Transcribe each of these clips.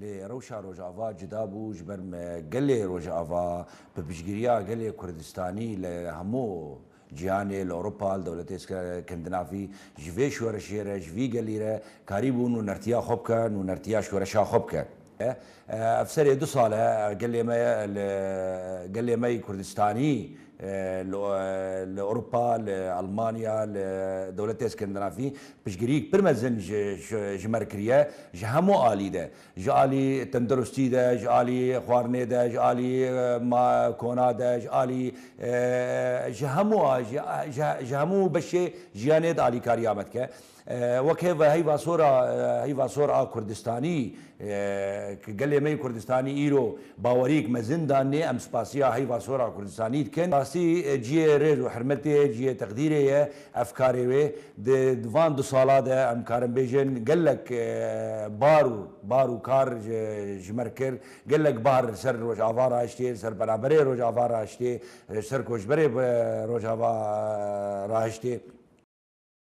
Lê rewşa Rojava cuda bû ji ber me gelê Rojava bi piştgiriya gelê Kurdistanî li hemû cîhanê, li Ewropa, li dewletê Skandinavî ji vê şoreşê re, ji vî gelî re karîbû nûnertiya xwe bike, nûnertiya şoreşa xwe bike. Ev serê du sal e gelê me li gelê me yî Kurdistanî, Li Ewropa, li Elmanya, li dewletê Skandinavî piştgiriyîk pir mezin ji me re kiriye ji hemû alî de. Ji alî tenduristî de, ji alî xwarinê de, ji alî kona de, ji alî ji hemû ji hemû beşê jiyanê de alîkariya me dike. Wek hêv heyva sor a heyva sor a Kurdistanî ke gelê me yê Kurdistanî îro baweriyêk mezin danê, em spasiya heyva sor a Kurdistanî dikin. Rastî ciyê rêz û hirmetê ye, ciyê teqdîrê ye ev karê wê. Di van du sala de em karin bêjin gelek bar û bar û kar ji me re kir. Gelek bar li ser Rojava rahiştê, li ser penaberê Rojava rahiştê, ji ser koçberê Rojava rahiştê.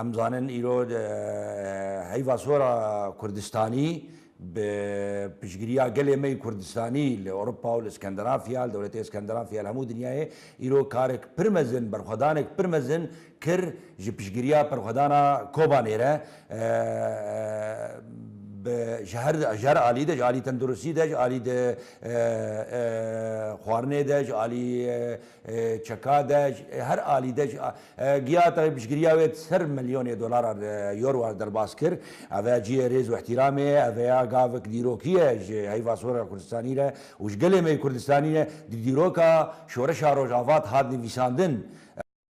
Em zanin îro heyva sora Kurdistanî bi piştgiriya gelê me yê Kurdistanî li Ewropa û li Skandinafya, li dewletê Skandinafya li hemû dinyayê îro karek pir mezin, berxwedanek pir mezin kir ji piştgiriya Perxwedana Kobanê re bi ji her ji her alî de ji alî tenduristî de ji alî di xwarinê de ji alî çeka de ji her alî de giya tevî piştgiriya wê di ser milyonê dolaran yorwan derbas kir ev e ciyê rêz û îhtîramê ye ev ya gavik dîrokî ye ji heyva sora Kurdistanî re û ji gelê me yê Kurdistanî re di dîroka şoreşa Rojava de hat nivîsandin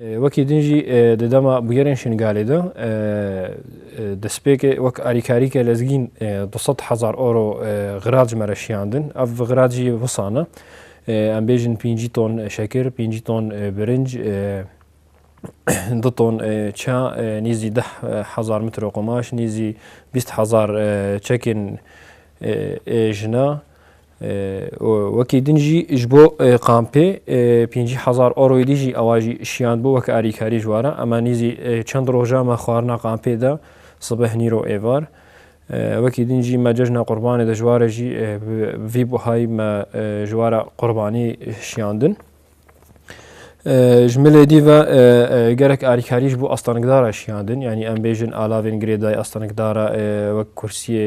Wekî din jî di dema bûyerên Şingalê de destpêkê wek alîkarîke lezgîn du sed hezar euro xirac me re şiyandin. Ev xirac jî wisa ne. Em bêjin pêncî ton şekir, pêncî ton birinc, du ton ça, nêzî deh hezar mitro qumaş, nêzî bîst hezar çekên jina, Wekî din jî ji bo kampê pêncî hezar euroyê dî jî ewa jî şiyand bû weke alîkarî ji wara ema nîzî çend roja me xwarina kampê de sibeh nîro êvar. Wekî din jî me cejna qurbanê de ji ware jî bi vî buhayî me ji wara qurbanî şiyandin. Ji milê dî ve gerek alîkarî ji bo astanikdara şiyandin yanî em bêjin alavên girêdayî astanikdara wek kursiyê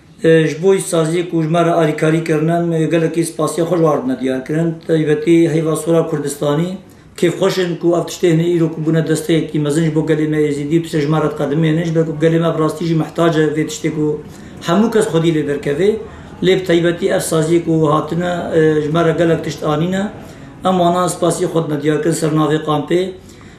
Ji bo îşsaziyê ku ji me re alîkarî kirine em gelekî spasiya xwe ji wan re dime diyar kirin. Bi taybetî heyva Sora Kurdistanî kêf xweş in ku ev tiştê hinî îro ku bûne desteyekî mezin ji bo gelê me Êzîdî û tiştê ji me re diqedimêne ji ber ku gelê me bi rastî jî mihtacî ye vê tiştê ku hemû kes xwedî lê derkeve lê bi taybetî ev saziyê ku hatine ji me re gelek tişt anîne. Em wan a spasiyê xwe dime diyar kirin ser navê kampê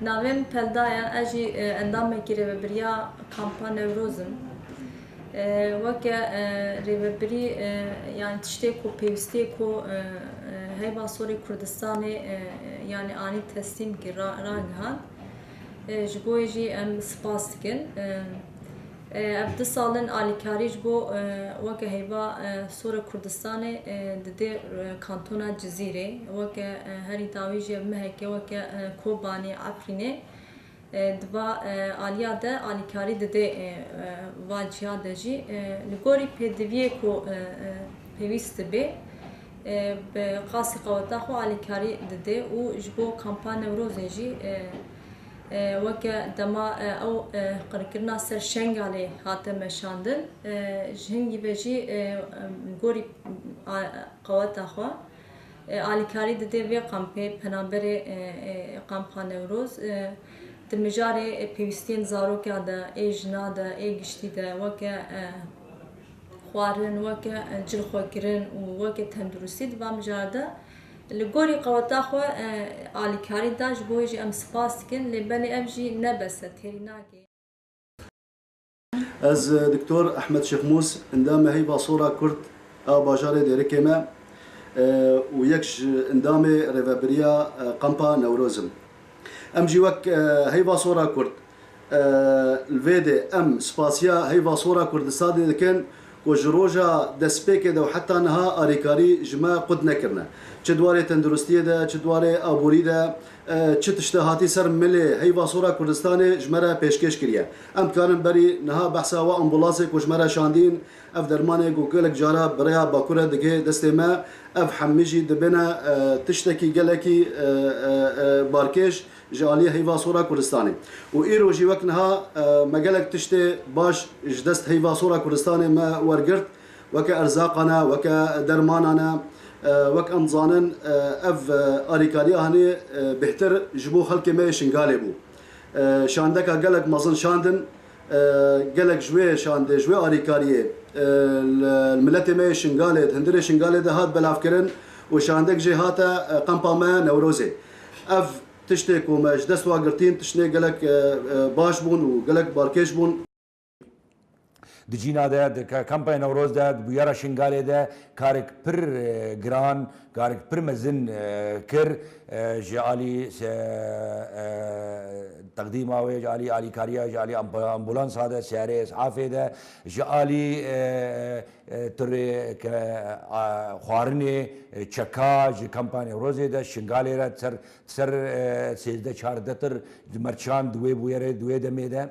Navên pelda ye, ez jî endamekî Rêvebiriya Kampa Newroz im. Weke rêvebirî yanî tiştê ku pêwîstiyê ku heyva sorê Kurdistanê yanî anî teslîm kir, ragihand. Ji bo wê jî em spas dikin. Ev du sal in alîkarî ji bo weke heyva Sora Kurdistanê didê kantona Cizîrê. Weke herî dawî jî ev meheke weke Kobanê, Efrînê di va aliya de alîkarî didê va ciya de jî. Li gorî pêdiviyê ku pêwîst dibê bi qasî qeweta xwe alîkarî didê û ji bo kampa Newrozê jî Weke dema ew qirkirina ser Şengalê hate meşandin, ji hingî ve jî gorî qeweta xwe alîkarî dide vê kampê penaberê Kampa Newroz. Di mijarê pêwîstiyên zaroka de ê jina de ê giştî de weke xwarin, weke cilxwekirin û weke tenduristî di van mijara de, Li gorî qeweta xwe alîkarî da, ji bo wê jî em spas dikin, lê belê ev jî ne bes e, têrî nagihîn. Ez Doktor Ehmed Şêxmûs, endamê Heyva Sola Kurd a bajarê Dêrikê me û yek ji endamê Rêveberiya Kampa Newroz im. Em jî wek Heyva Sola Kurd Li vê de em spasiya Heyva Sor a Kurdistanê dikin ku ji roja destpêkê de û heta niha alîkarî ji me qut nekirine. Çi di warê tenduristiyê de, çi di warê aborî de, çi tişte hatî ser milê Heyva Sor a Kurdistanê ji me re pêşkêş kiriye. Em dikarin berî niha behsa we ambûlansê ku ji me re şandîn, ev dermanê ku gelek cara bi rêya Bakur re digihê destê me, ev hemî jî dibêne tiştekî gelekî barkêş. ji aliyê heyva sora Kurdistanê û îro jî wek niha me gelek tiştê baş ji dest heyva sora Kurdistanê me wergirt weke erzaqan e, weke dermanan e wek em dizanin ev alîkariya hanê bêhtir ji bo xelkê me yê Şingalê bû. Şandeka gelek mezin şandin gelek ji wê şandê ji wê alîkariyê li miletê me yê Şingalê di hundirê Şingalê de hat belavkirin û şandek jê hate qempa me Newrozê. Ev tiştê ku me ji dest ve girtîn tiştê gelek baş bûn û gelek balkêş bûn. Di cîna de, di kampaya Newroz de, di bûyera Şingalê de karek pir giran, karek pir mezin kir ji alî teqdîma wê, ji alî alîkariya, ji alî ambulansa de, seyarê es'afê de, ji alî Tu rê ke xwarinê çeka ji Kampa Newrozê de Şingalê re ser ser sêzdeh çardeh tir di merçan di wê bûyerê di wê demê de.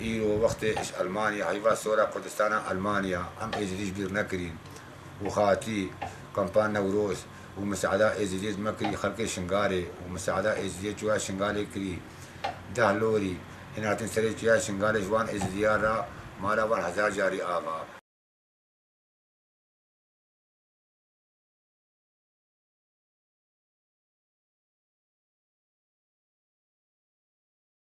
Îro wextê iş Elmanya heyva sora Kurdistana Elmanya em êzidîş bîr nekirîn û xatî kampa Newroz û miseada êzidîyê zime kirî xelkê Şingalê û miseada êzidîyê çûya Şingalê kirî deh lorî hîn hatin serê çûya Şingalê ji wan êzidîyan ra mala wan hezar carî ava.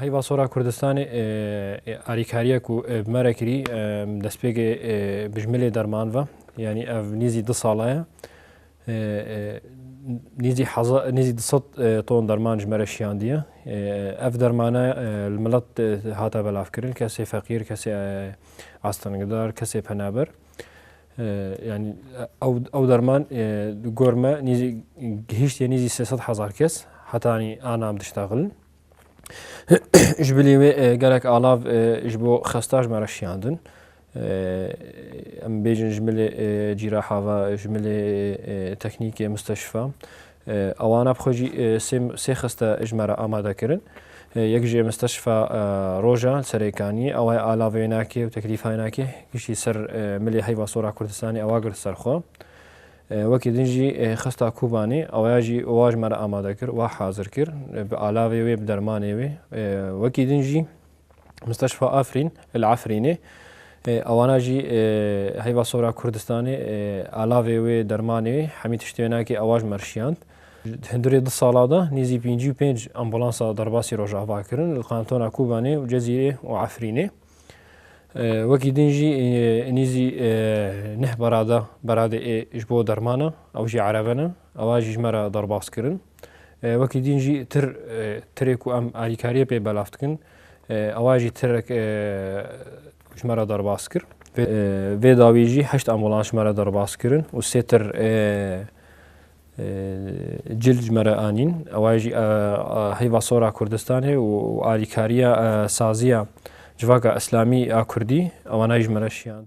Heyva Sora Kurdistanê alîkariya ku bi me re kirî destpêkê bijmilê derman ve yanî ev nîzî du sala ye nîzî nîzî du sed ton derman ji me re şiyandiye ev dermane li milet hate belavkirin kesê feqîr kesê astengidar kesê penaber Yanî ew derman di gor me nîzî gihîştiye nîzî sê sed hezar kes heta yanî ana em diştexilin. Ji bilî wê gelek alav ji bo xesta ji me re şiyandin. Em bêjin ji milê cîraha ve, ji milê teknîkê misteşfa Awana bi xwe jî sê sê xiste ji me re amadekirin. Yek ji Misteşfa Rojan li Serêkaniyê ew ê alave yê nake û teklîfa yê nake giştî ser milê heyva sora Kurdistanê ewa girt ser xwe. Wekî din jî xista Kobanê awaya jî wa ji me re amade kir, wa hazir kir bi alavê wê bi dermanê wê. Wekî din jî. Musteşfa Afrîn li Efrînê ewana jî heyva sora Kurdistanê alavê wê dermanê wê hemî tiştê wê nakê ewa ji me rişiyand. Hindurê du sala de nêzî pêncî û pênc ambulansa derbasî rojava kirin li kantona Kobanê û Cezîrê û Efrînê. Wekî din jî nêzî neh berada beradê ê ji bo dermana ew jî erebe ne ewa jî ji me re derbas kirin. Wekî dîn jî tir tirê ku em alîkariyê pê belav dikin ewa jî tirek ji me re derbas kir. Vê dawî jî heşt ambulans ji me re derbas kirin û sê tir cil ji me re anîn. Ewa jî heyva sor a Kurdistanê û alîkariya saziya civaka îslamî a Kurdî ewana jî ji me re şiyand.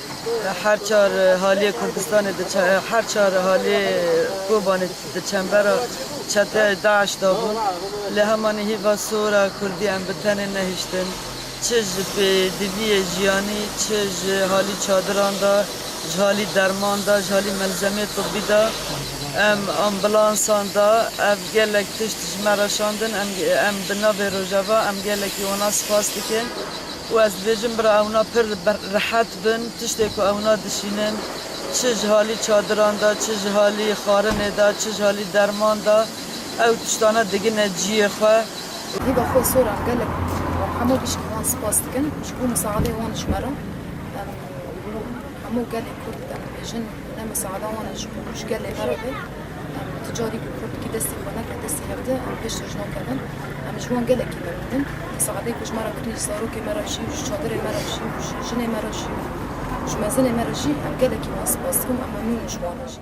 Her çar haliyê Kurdistanê diçe her çar haliyê Kobanê di çembera çeteyê DAIŞ de bûn. Lê hemanî hîva sor e Kurdî em bi tenê nehiştin. Çi ji pêdiviyê jiyanî, çi ji halî çadiran de, ji halî derman de, ji halî melzemeyê tibî de, em ambulansan de ev gelek tişt ji me re şandin. Em em bi navê Rojava em gelekî wana spas dikin. Û ez dibêjim bira ewna pir rehet bin tiştê ku ewna dişînin çi ji halî çadiran de çi ji halî xwarinê de çi ji halî derman de ew tiştane digine ciyê xwe. Hêva xwe soran gelek û hemû piştî wan spas dikin ji bo misaadê wan ji me re. Em li hemû gelê kurd de dibêjin. Em misaada wan e ji bo ji gelê me re be. Em ti carî ku kurdkî destê xwe neke destê hevdeh em pêş re ji wan kevin. Em ji wan gelekî memnûnin. Misaadeyê ku ji me re kir ji zarokê me re jî û ji çadirê me re jî û ji jinê me re jî û ji mezinê me re jî em gelekî wan spas dikin û em memnûn in ji wan re jî.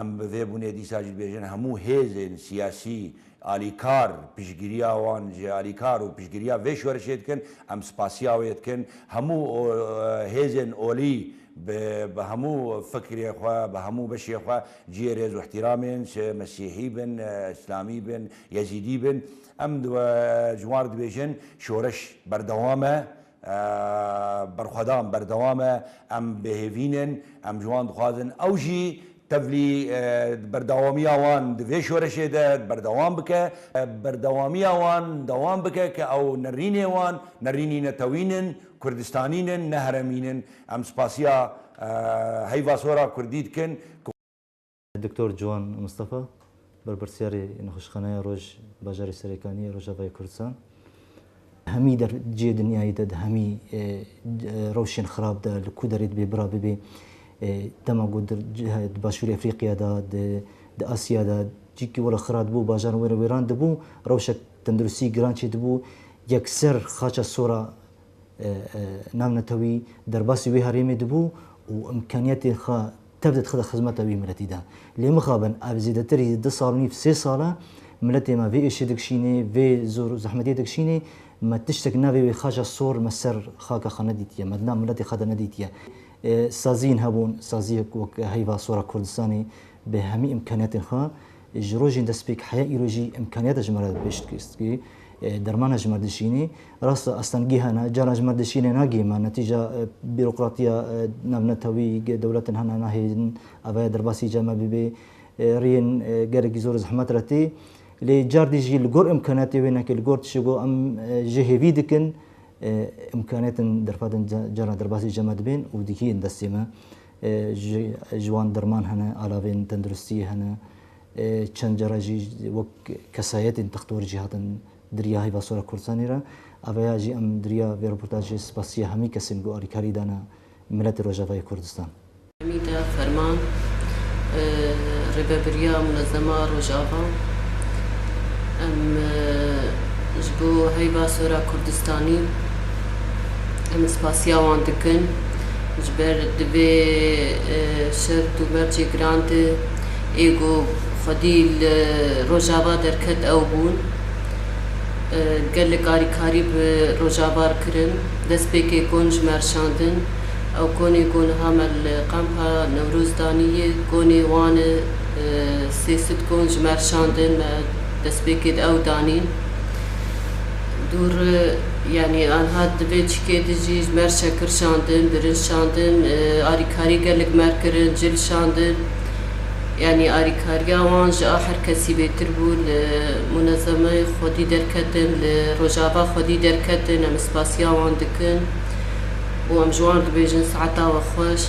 Em bi vê bûnê dîsa jî dibêjin hemû hêzên siyasî alîkar piştgiriya wan ji alîkar û piştgiriya vê şorişê dikin. Em spasiya wê dikin. Hemû hêzên olî bi bi hemû fikrê xwe, bi hemû beşê xwe cihê rêz û îhtîramên çi mesîhî bin, îslamî bin, yezîdî bin. Em di ji wan re dibêjin şoreş berdewam e. Berxwedan berdewam e, em bêhêvîn in, em ji wan dixwazin ew jî tevlî berdewamiya wan di vê şoreşê de berdewam bike, berdewamiya wan dewam bike ke ew nerînê wan, nerînî netewîn in, kurdistanîn in, ne heremîn in. Em spasiya heyva sora kurdî dikin ku. Doktor Ciwan Mistefa, berpirsyarê Nexweşxaneya Roj bajarê Serêkaniyê Rojavayê Kurdistan, Hemî der cihê dinyayê de di hemî rewşên xirab de li ku derê dibê bira bibe. Dema ku di Başûrê Efrîqya de, di Asya de cihekî were xira dibû, bajaran were wêran dibû, rewşek tenduristî giran çêdibû. Yekser xaça sora navnetewî derbasî wê herêmê dibû û imkaniyetên xwe Tev dê dixîne xizmeta wî miletî de. Lê mixabin ev zêdetir ê du sal û nîv sê sal e miletê me vê êşê dikişînê, vê zor û zehmetê dikişînê. Me tiştek navê wê xaca sor me ser xaka xwe nedîtiye, me di nav miletê xwe de nedîtiye. Saziyên hebûn, saziyek wek heyva sora Kurdistanê bi hemî îmkaniyatên xwe, Ji rojên destpêk heya îro jî îmkaniyata ji me re bi pêş dikevîst ku dermana ji me dişînî. Rast e astengî hene, caran ji me dişînê nagihê me. Netîca bîrokratiya navnetewî dewletin hene nahêlin avaya derbasî ca me bibê. Riyên gelekî zor zehmet re tê. Lê cardî jî li gor îmkaniyatê wê neke li gor tişê ku em ji hêvî dikin îmkaniyatin derfetin caran derbasî ca me dibên û dikî yên destê me. Ji wan derman hene, alavên tenduristiyê hene. Çend care jî wek kesayetên textor jî hatin dirîya heyva sora Kurdistanê re. Aveya jî em dirîya vê reportajê spasîya hemî kesên ku alîkarî dane miletê Rojavayê Kurdistan. Hemîda Ferman, Rêvebirîya Munezema Rojava, Em ji bo heyva sora Kurdistanî em spasîya wan dikin. Ji ber di vê şert û mercê giran de ê ku xwedî li Rojava derket ew bûn. Gelek alîkarî bi Rojavar kirin. Destpêkê kon ji me rişandin. Ew konê ku niha me li Qempa Newroz danî ye, konê wan e. Sê sed kon ji me rişandin, me destpêkê di ew danîn. Dûr yanî anha di vê çikê de jî ji mer şekir şandin, birinc şandin, arîkarî gelek mer kirin, cil şandin. Yanî arîkariya wan ji a her kesî bêtir bû. Li munezemeyê xwedî derketin, li rojava xwedî derketin. Em spasiya wan dikin û em ji wan dibêjin saeta we xweş.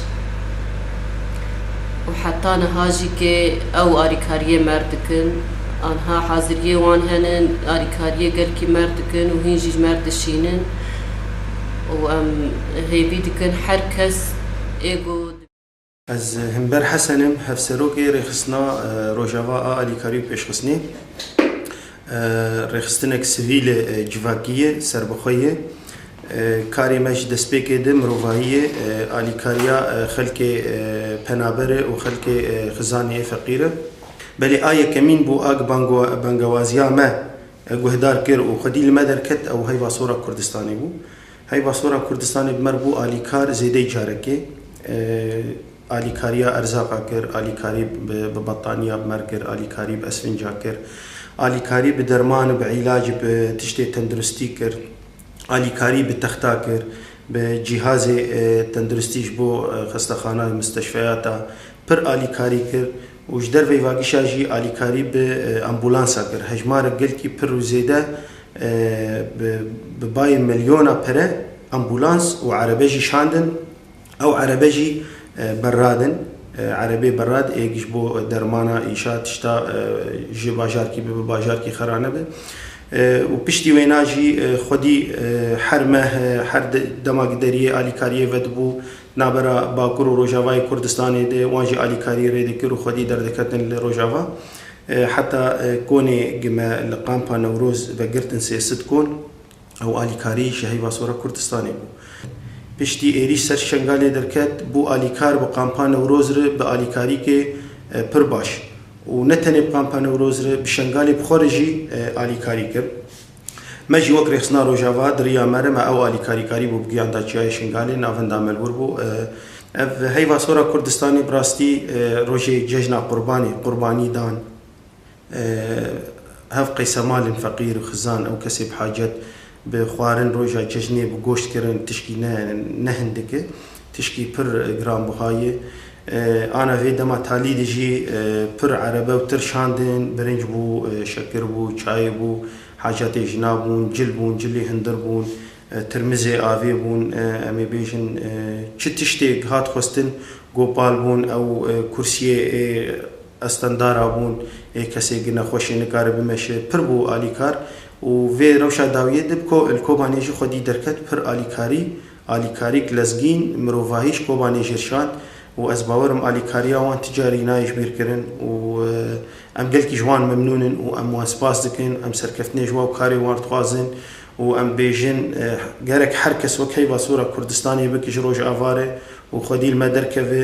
Û heta niha jî kê ew arîkariyê mer dikin. Anha haziriyê wan hene alîkariyê gelkî merg dikin û hîn jî ji merg dişînin û em hêvî dikin her kes ê ku. Ez Himber Hesen im, Hevserokê Rêxistina Rojava a Alîkarî û Pêşxistinê. Rêxistinek sivîl e, civakî ye, serbixwe ye. Karê me ji destpêkê di mirovahî ye, alîkariya xelkê penaber e û xelkê xizanê yê feqîr e. Belê a yekemîn bû a ku bangewaziya me guhdar kir û xwedî li me derket ew heyva sora Kurdistanê bû. Heyva sora Kurdistanê bi me re bû alîkar zêdeyî carekê. Alîkariya erzaqa kir, alîkarî bi bettaniya bi me re kir, alîkarî bi esfinca kir, alîkarî bi derman û bi îlacî bi tiştê tenduristî kir, alîkarî bi texta kir, bi cîhazê tenduristî ji bo xestexana, musteşfeyata pir alîkarî kir û ji derveyî vagişa jî alîkarî bi ambulansa kir. Hejmarek gelkî pir û zêde bi bayê milyona pere ambulans û erebe jî şandin. Ew erebe jî berrad in. Erebê berrad ê ji bo dermana îşa tişta ji bajarkî bibe bajarkî xera nebe û piştî wêna jî xwedî her meh her dema gideriyê alîkariyê vedibû Navbera Bakur û Rojavayê Kurdistanê de wan jî alîkarî rê dikir û xwedî derdiketin li Rojava. Heta konê gi me li Kampa Newroz vegirtin sê sit kon ew alîkarî ji heyva sora Kurdistanê bû. Piştî êrîş ser Şengalê derket bû alîkar bi Kampa Newroz re bi alîkarîkê pir baş û ne tenê bi Kampa Newroz re bi Şengalê bi xwe re jî alîkarî kir. Me jî wek rêxistina Rojava di riya me re me ew alîkarî karî bû bi giyan da Çiyayê Şingalê navinda me li wir bû. Ev heyva sora Kurdistanê bi rastî rojê cejna qurbanê, qurbanî dan hev qeysemalên feqîr, xizan ew kesê bi hacet bi xwarin roja cejnê bi goşt kirin tişkî ne ne hindik e. Tişkî pir giranbiha ye. Ana vê dema talî de jî pir erebe û tir şandin, birinc bû, şekir bû, çayê bû, hacatê jina bûn, cil bûn, cilê hundir bûn, tirmizê avê bûn, em ê bêjin çi tiştêk hat xwestin gopal bûn, ew kursiyê ê estendara bûn, ê kesê ki nexweş ê nikare bimeşe, pir bû alîkar û vê rewşa dawiyê de bi ko li Kobanê jî xwedî derket pir alîkarî Alîkarî Glezgîn, mirovahî ji Kobanê jê şand û ez bawer im alîkariya wan ti carî nayê ji bîr kirin û em gelkî ji wan memnûn in û em wan spas dikin. Em serkeftinê ji wan û karê wan dixwazin û em bêjin gerek her kes wek heyva sora Kurdistanê bike ji Rojava re û xwedî li me derkeve.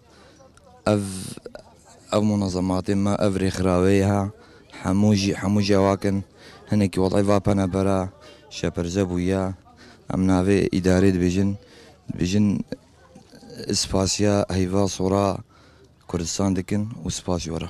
Ev ev munazematê me ev rêxirawê ye hemû jî hemû cewak in. Hinekî welay va pene bera şeperze bûye. Em navê îdarê dibêjin dibêjin spasiya heyva sora Kurdistan dikin û spas ji we re.